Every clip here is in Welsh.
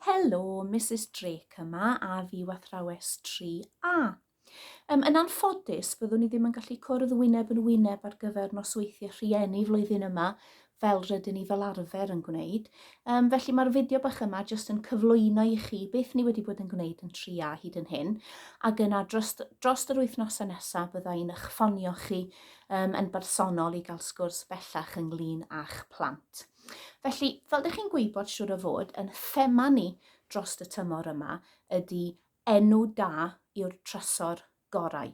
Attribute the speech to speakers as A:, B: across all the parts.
A: Helo, Misus Drake yma a fyw athrawes 3A. Um, yn anffodus, byddwn i ddim yn gallu cwrdd wyneb yn wyneb ar gyfer nosweithiau rhieni flwyddyn yma, fel rydyn ni fel arfer yn gwneud. Um, felly mae'r fideo bach yma jyst yn cyflwyno i chi beth ni wedi bod yn gwneud yn 3A hyd yn hyn, ac yna dros, dros yr wythnosau nesaf bydda i'n eich ffonio chi um, yn bersonol i gael sgwrs bellach ynglyn â'ch plant. Felly, fel dych chi'n gwybod siwr o fod, yn thema ni dros y tymor yma ydy enw da yw'r trysor gorau.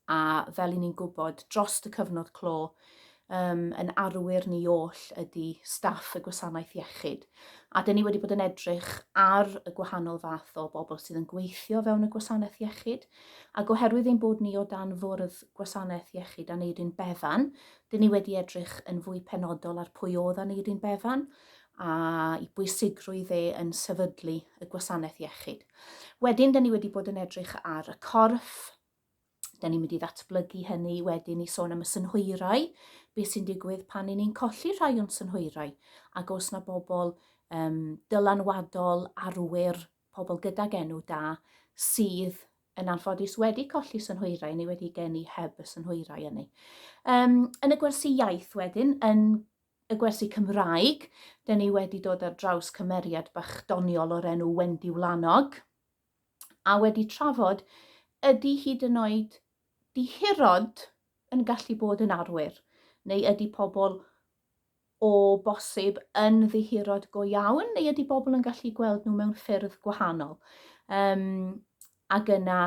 A: A fel i ni'n gwybod, dros y cyfnod clo, um, yn arwyr ni oll ydy staff y gwasanaeth iechyd. A dyn ni wedi bod yn edrych ar y gwahanol fath o bobl sydd yn gweithio fewn y gwasanaeth iechyd. Ac oherwydd ein bod ni o dan fwrdd gwasanaeth iechyd Aneiryn Bevan, Dyn ni wedi edrych yn fwy penodol ar pwy oedd Aneirin Bevan a'i bwysigrwydd e yn sefydlu y gwasanaeth iechyd. Wedyn, dyn ni wedi bod yn edrych ar y corff, dyn ni'n mynd i ddatblygu hynny wedyn i sôn am y synhwyrau, beth sy'n digwydd pan i ni'n colli rhai o'n synhwyrau, ac os na bobl um, dylanwadol, arwyr, pobl gydag enw da, sydd yn anffodus wedi colli synhwyrau neu wedi geni heb y synhwyrau ynny. Um, yn y gwersi iaith wedyn, yn y gwersi Cymraeg, dyn ni wedi dod ar draws cymeriad bach doniol o'r enw Wendy Wlanog, a wedi trafod ydy hyd yn oed dihirod yn gallu bod yn arwyr, neu ydy pobl o bosib yn ddihirod go iawn, neu ydy bobl yn gallu gweld nhw mewn ffyrdd gwahanol? Um, ac yna,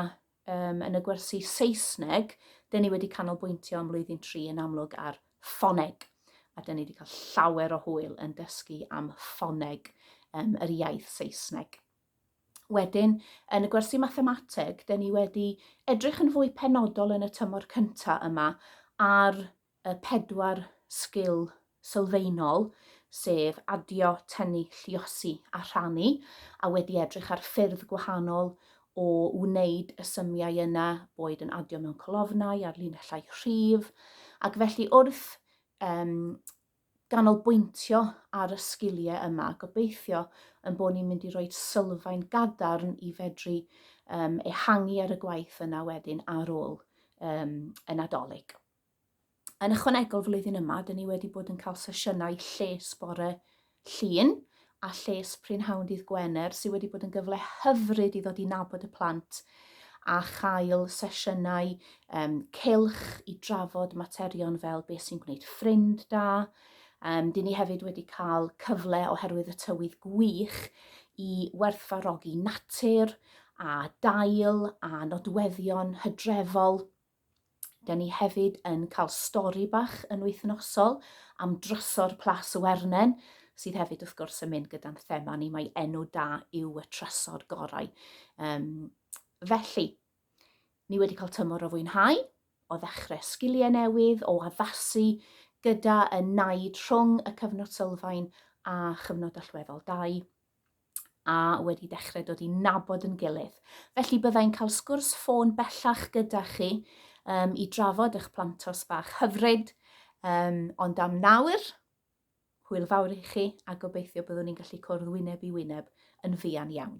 A: um, yn y gwersi Saesneg, dyn ni wedi canolbwyntio am flwyddyn tri yn amlwg ar ffoneg, a dyn ni wedi cael llawer o hwyl yn dysgu am ffoneg um, yr iaith Saesneg. Wedyn, yn y gwersi mathemateg, dyn ni wedi edrych yn fwy penodol yn y tymor cyntaf yma ar y pedwar sgil sylfaenol, sef adio, tynnu, lluosi a rhannu, a wedi edrych ar ffyrdd gwahanol o wneud y symiau yna, boed yn adio mewn colofnau ar linellau rhif, ac felly wrth um, ganolbwyntio ar y sgiliau yma, gobeithio yn bod ni'n mynd i roi sylfaen gadarn i fedru um, ehangu ar y gwaith yna wedyn ar ôl um, y Nadolig. Yn ychwanegol flwyddyn yma, dyn ni wedi bod yn cael sesiynau lles bore Llun a lles prynhawn dydd Gwener sydd wedi bod yn gyfle hyfryd i ddod i nabod y plant a chael sesiynau um, cylch i drafod materion fel beth sy'n gwneud ffrind da. Um, dyn ni hefyd wedi cael cyfle oherwydd y tywydd gwych i werthfarogi natur a dail a nodweddion hydrefol Da ni hefyd yn cael stori bach yn wythnosol am drysor Plas y Wernen, sydd hefyd wrth gwrs yn mynd gyda'n thema ni, mae enw da yw y trysor gorau. Um, felly, ni wedi cael tymor o fwynhau, o ddechrau sgiliau newydd, o addasu gyda y naid rhwng y cyfnod sylfaen a chyfnod allweddol 2. a wedi dechrau dod i nabod yn gilydd. Felly byddai'n cael sgwrs ffôn bellach gyda chi um, i drafod eich plantos bach hyfryd, um, ond am nawr, hwyl fawr i chi a gobeithio byddwn ni'n gallu cwrdd wyneb i wyneb yn fuan iawn.